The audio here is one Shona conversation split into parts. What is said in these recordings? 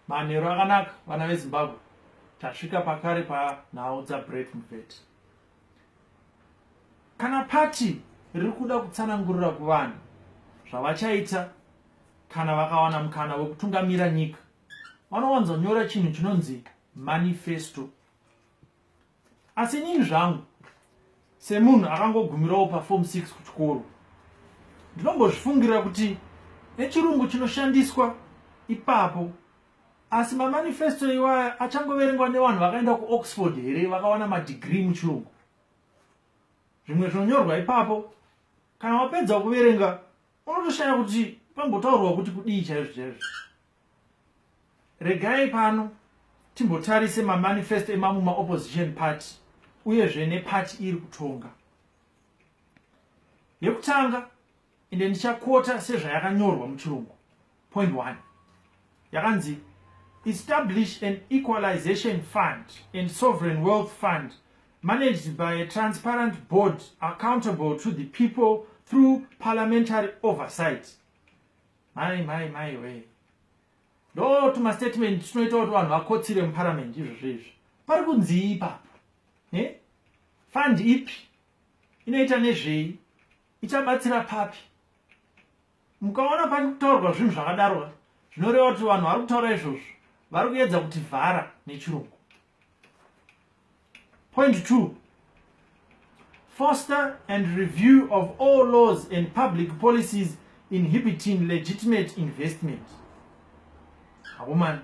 Manheru akanaka vana veZimbabwe, tasvika pakare panhau dzaBrett Mubvete. Kana pati riri kuda kutsanangurira kuvanhu zvavachaita kana vakawana mukana wekutungamira nyika, vanowanzonyora chinhu chinonzi manifesto. asi inini zvangu semunhu akangogumirawo pafom 6 kuchikoro ndinombozvifungira kuti nechirungu chinoshandiswa ipapo asi mamanifesto iwaya achangoverengwa nevanhu vakaenda kuoxford here vakawana madhigiri muchirungu zvimwe zvinonyorwa ipapo kana wapedza kuverenga unotoshaya kuti pambotaurwa kuti kudii chaizvo chaizvo Regai pano timbotarise mamanifesto emamwe maopposition party uyezve neparty iri kutonga. Yekutanga ende ndichakota sezvayakanyorwa muchirungu point one yakanzi establish an equalization fund and sovereign wealth fund managed by a transparent board accountable to the people through parliamentary oversight Mai mai mai wee. Ndo tuma statement tunoita kuti vanhu vakotsire mu parliament izvo zvezvo. Pari kunzii ipapo? Eh? Fund ipi? Inoita nezvei? Ichabatsira papi? Mukaona pari kutaurwa zvinhu zvakadaro zvinoreva kuti vanhu vari kutaura izvozvo vari kuedza kuti vhara nechirungu. Point two, foster and review of all laws and public policies inhibiting legitimate investment. Hakomana,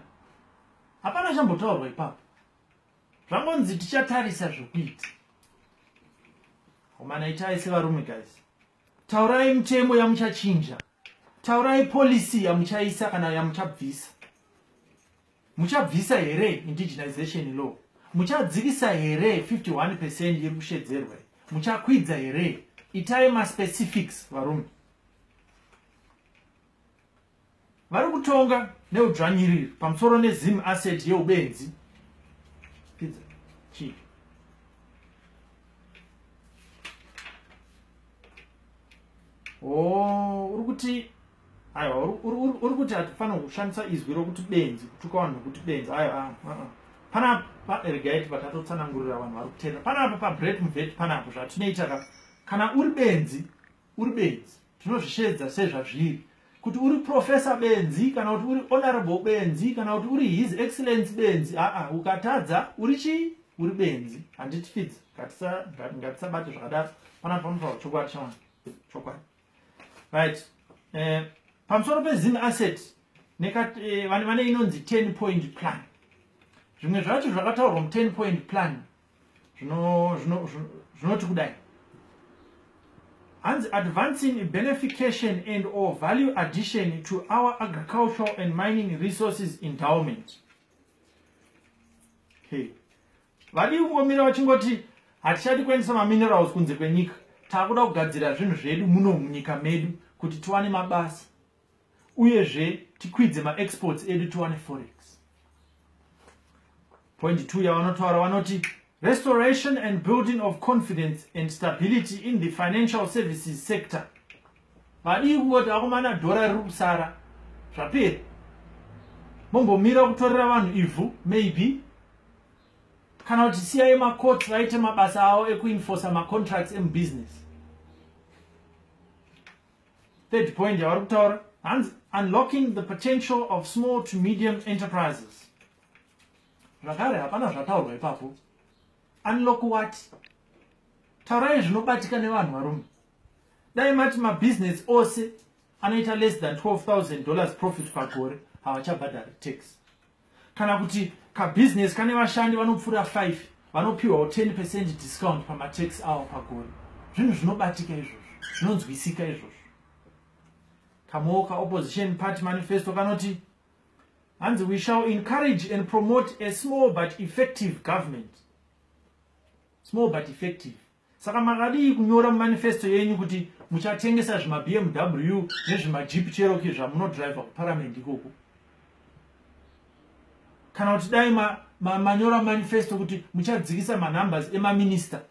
hapana chambotaurwa ipapo. Zvangonzi tichatarisa zvekuita. Hakomana itai sevarume guys. Taurai mutemo yamuchachinja. Taurai policy yamuchaisa kana yamuchabvisa. Muchabvisa here indigenization law? Muchadzivisa here 51 percent iri kushedzerwa? Muchakwidza here? Itai maspecifics varume. Vari kutonga neudzvanyiriri pamusoro nezim asset yeubenzi. Pizza. Chii? Oh, uri kuti aiwa uri kuti hatifanira kushandisa izwi rokuti benzi kutuka vanhu nokuti benzi aiwa ah, ah, ah. panapa regai tipa tatotsanangurira vanhu vari kutenda panapa pabreak muveti panapo zvatinoita ka kana uri benzi uri benzi tinozvisheedza sezvazviri kuti uri profesa benzi kana kuti uri honorable benzi kana kuti uri his excellence benzi aa ukatadza uri chii uri benzi handitifidzi ngatisabate zvakadaro panapa panotaura chokwadi chawana chokwadi right eh, pamusoro pezim asset eh, vane vane inonzi 10 point plan zvimwe zvacho zvakataurwa mu 10 point plan zvinoti kudai hanzi advancing benefication and or value addition to our agricultural and mining resources endowment okay. vadii kungomira vachingoti hatichadi kuendesa maminerals kunze kwenyika takuda kugadzira zvinhu zvedu muno munyika medu kuti tiwane mabasa uyezve tikwidze maexports edu tiwane forex point two yavanotaura vanoti restoration and building of confidence and stability in the financial services sector Madii kungoti akomana dhora riri kusara zvapera. Mombomira kutorera vanhu ivhu maybe kana kuti siyai macourts vaite mabasa avo ekuinforsa macontracts emubusiness third point yavari kutaura hanzi unlocking the potential of small to medium enterprises zvakare hapana zvataurwa ipapo unlock what taurai zvinobatika nevanhu varume dai mati mabusiness ose anoita less than 12000 dollars profit pagore havachabhadhari tax kana kuti kabusiness kane vashandi vanopfuura 5 vanopiwawo 10 percent discount pamatax avo pagore zvinhu zvinobatika izvozvo zvinonzwisika izvozvo kamoka opposition party manifesto kanoti hanzi we shall encourage and promote a small but effective government small but effective saka makadii kunyora mumanifesto yenyu kuti muchatengesa zvimabmw nezvimajip cheroki zvamunodriver kuparament ikoko kana kuti dai manyora ma, ma manifesto kuti muchadzikisa manumbers emaminista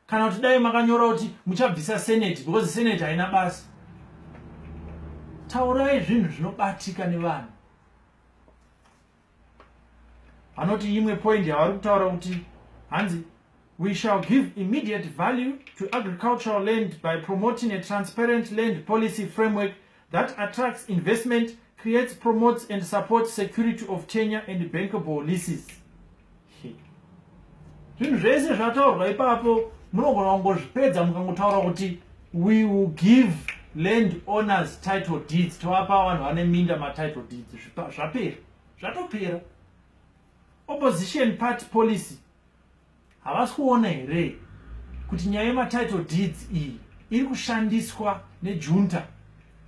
kana kuti dai makanyora kuti muchabvisa seneti because seneti haina basa taurai zvinhu zvinobatika nevanhu anoti imwe point yavari kutaura kuti hanzi we shall give immediate value to agricultural land by promoting a transparent land policy framework that attracts investment, creates, promotes and supports security of tenure and bankable leases. Zvinhu zvese zvataurwa ipapo munogona kungozvipedza mukangotaura kuti we will give land owners title deeds tovapa vanhu vane minda matitle deeds zvapera zvatopera opposition party policy havasi kuona here kuti nyaya yematitle deeds iyi iri kushandiswa nejunta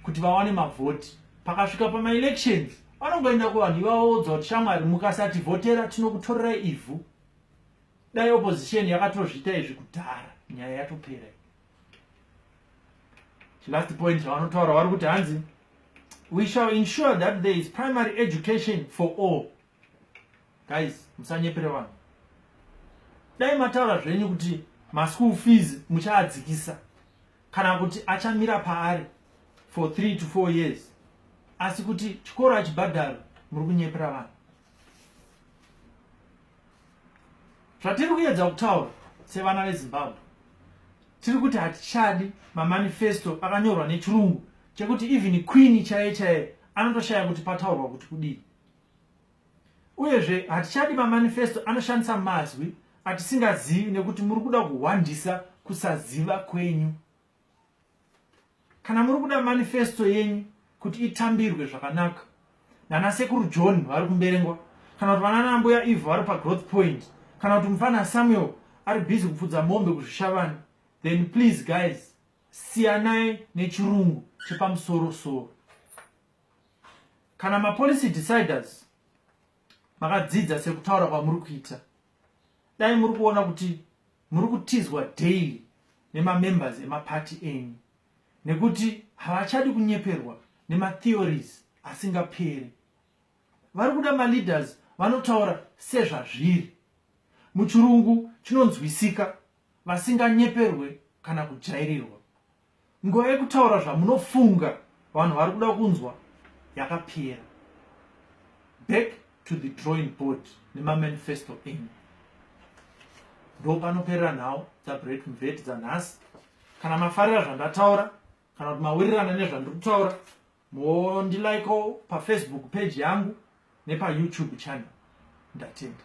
kuti vawane mavhoti pakasvika pamaelections vanongoenda kuvanhu ivavaudza kuti shamwari mukasati vhotera tinokutorerai ivhu dai opposition yakatozviita izvi kudhara nyaya yatopera chilast point chavanotaura vari kuti hanzi we shall ensure that there is primary education for all guys musanyepere vanhu dai mataura zvenyu kuti maschool fees muchaadzikisa kana kuti achamira paari for 3 to 4 years asi kuti chikoro achibhadharo muri kunyepera vanhu zvatiri kuyedza kutaura sevana vezimbabwe tiri kuti hatichadi mamanifesto akanyorwa nechirungu chekuti even queen chaiye chaiye anotoshaya kuti pataurwa kuti kudii Uyezve, hatichadi mamanifesto anoshandisa mazwi atisingazivi nekuti muri kuda kuhwandisa kusaziva kwenyu. Kana muri kuda manifesto yenyu kuti itambirwe zvakanaka nana sekuru john vari kumberengwa kana kuti vanana mbuya ivo vari pagrowth point kana kuti mufana samuel ari busy kupfudza mombe kuzvishavani then please guys siyanai nechirungu chepamusoro soro kana mapolicy deciders makadzidza sekutaura kwamuri kuita dai muri kuona kuti muri kutizwa daily nemamembers emaparty enyu nekuti havachadi kunyeperwa nematheories asingaperi vari kuda maleaders vanotaura sezvazviri muchirungu chinonzwisika vasinganyeperwe kana kujairirwa Nguva yekutaura zvamunofunga vanhu vari kuda kunzwa yakapera. Back to the drawing board nemamanifesto enyu. Ndo panoperera nhau dzaBreak Mveti dzanhasi. Kana mafarira zvandataura kana kuti mawirirana nezvandiri kutaura mondilikeo pafacebook page yangu nepayoutube channel ndatenda